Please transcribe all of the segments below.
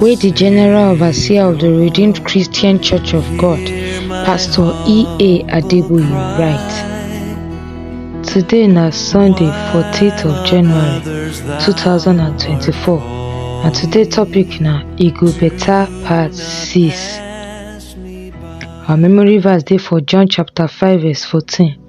wey di general overseer of di redeemed christian church of god pastor ea adeboye write today na sunday 14th of january 2024 and today topic na e go beta part 6 our memory verse dey for john chapter 5 verse 14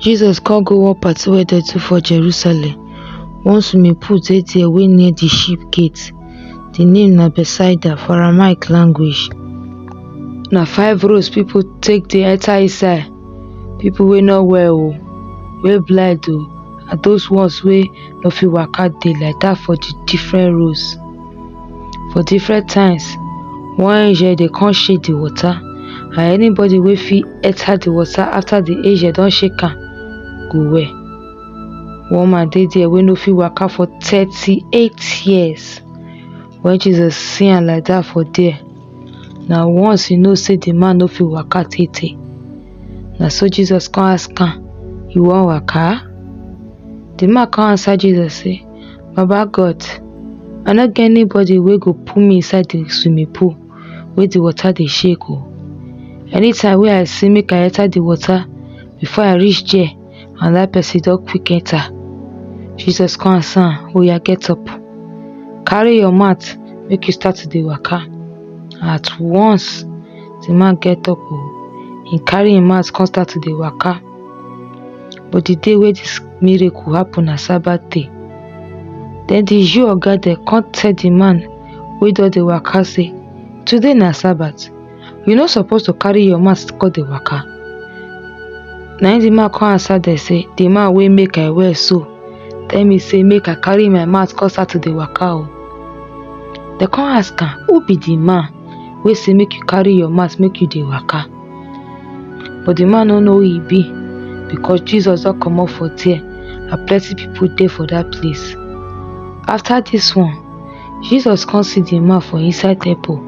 Jesus come go one party wey dem do for Jerusalem. One swimming pool dey there wey near the sheep gate. The name na Bethsaida for Aramaic language. Na five roads people take dey enter inside. People wey no well o, wey blind o, and those ones wey no fit waka dey like that for the different roads. for different times one angel dey come shake the water and anybody wey fit enter the water after the angel don shake am go well one man dey there wey no fit waka for thirty-eight years when Jesus see am like that for there na once he know say the man no fit waka tey tey na so Jesus come ask am you wan waka the man come answer Jesus say Baba God, I no get anybody wey go pull me inside the swimming pool wey the water dey shake o. Anytime wey I say make I enter the water, before I reach there, another person don quick enter. Jesus come answer am, oya get up, carry your mat make you start to dey waka. At once, the man get up o, he carry him mat come start to dey waka. but the day wey this miracle happen na sabbath day then the jew oga dem come tell the man wey don dey waka say today na sabbath you no suppose to carry your mat come dey waka na im the man come answer dem say the man wey make i well so tell me say make i carry my mat come start to dey waka o dem come ask am who be the man wey say make you carry your mat make you dey waka but the man no know who e be because Jesus don comot for there and plenty people dey for that place. After this one, Jesus come see the man for inside temple.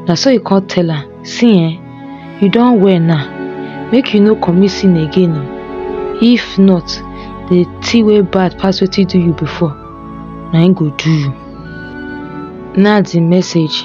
Na so he come tell am, See eh, you don well now, make you no commit sin again o. If not, the thing wey bad pass wetin do you before, na im go do you. Na the message.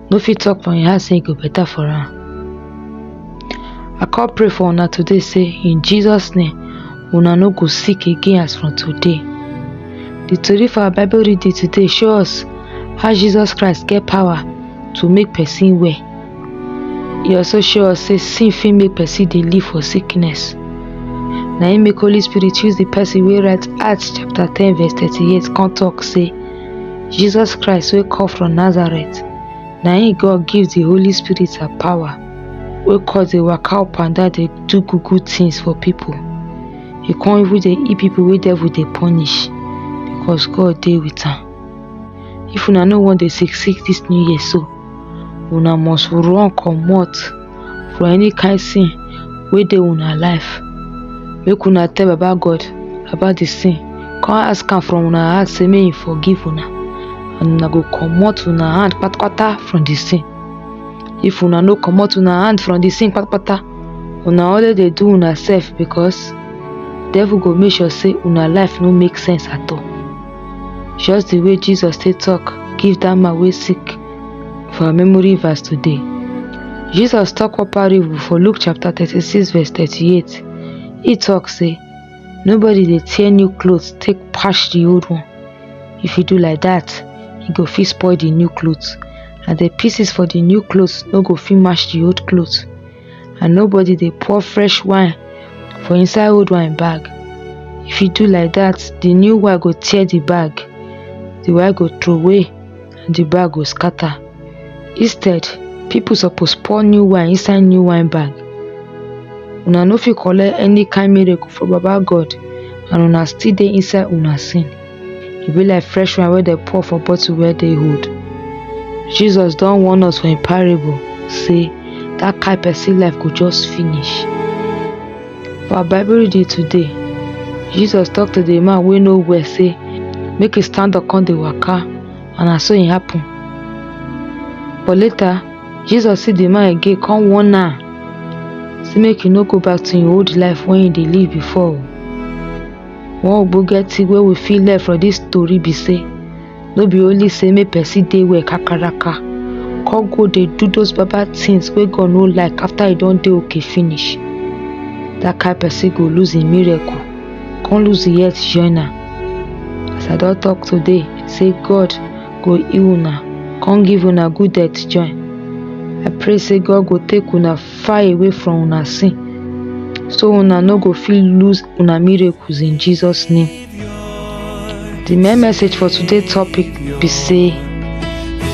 no fit talk for im heart say e go better for am. I come pray for una today say in Jesus name una no go sick again as from today. The tori for our bible reading today show us how Jesus Christ get power to make person well. E also show us say sin fit make person dey live for sickness. Na im make Holy Spirit use the person wey write Acts chapter ten verse thirty-eight come talk say Jesus Christ wey come from Nazareth na him God give the Holy Spirit her power wey cause dey waka up and down dey do good good things for people. He come even dey heal people wey devil dey punish because God dey with am. If una no wan dey sick sick this new year so, una must run comot for any kind sin wey dey una life make una tell baba God about the sin come ask am from una heart say make him forgive una and una go comot una hand patapata from the sin if una no comot una hand from the sin patapata una only dey do una sef because devil go make sure say una life no make sense at all just the way Jesus take talk give that man wey sick For our memory verse today, Jesus talk one parable for Luke chapter 36 verse 38. He talk say, nobody dey tear new clothes take patch the old one. If you do like that, you go fit spoil the new clothes and the pieces for the new clothes no go fit match the old clothes. And nobody dey pour fresh wine for inside old wine bag. If you do like that, the new wine go tear the bag, the wine go throw away and the bag go scatter. Instead, people suppose pour new wine inside new wine bag. Una no fit collect any kind miracle for Baba God and una still dey inside una sin. E be like fresh wine wey dem pour for bottle wey dey old. Jesus don warn us for im parable say that kind person life go just finish. For our Bible reading today, Jesus talk to the man wey no well say make e stand up come dey waka and na so e happen. But later, Jesus see the man again come warn am say make e no go back to im old life wey e dey live before o. One ogbonge thing wey we fit learn from this story be say no be only say make person dey well kakaraka come go dey do those bad bad things wey God no like after e don dey okay finish that kind person go lose im miracle come lose im health join am as I don talk today say God go heal una come give una good health join I pray say God go take una far away from una sin so una no go fit lose una miracles in Jesus name The main message for today topic be say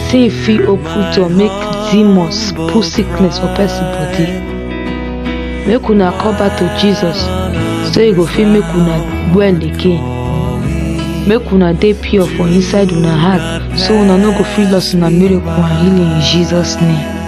sin fit open door make demons put sickness for person body. Make una come back to Jesus so e go fit make una well again. Make una dey pure for inside una heart so una no go fit loss una miracle and healing in Jesus name.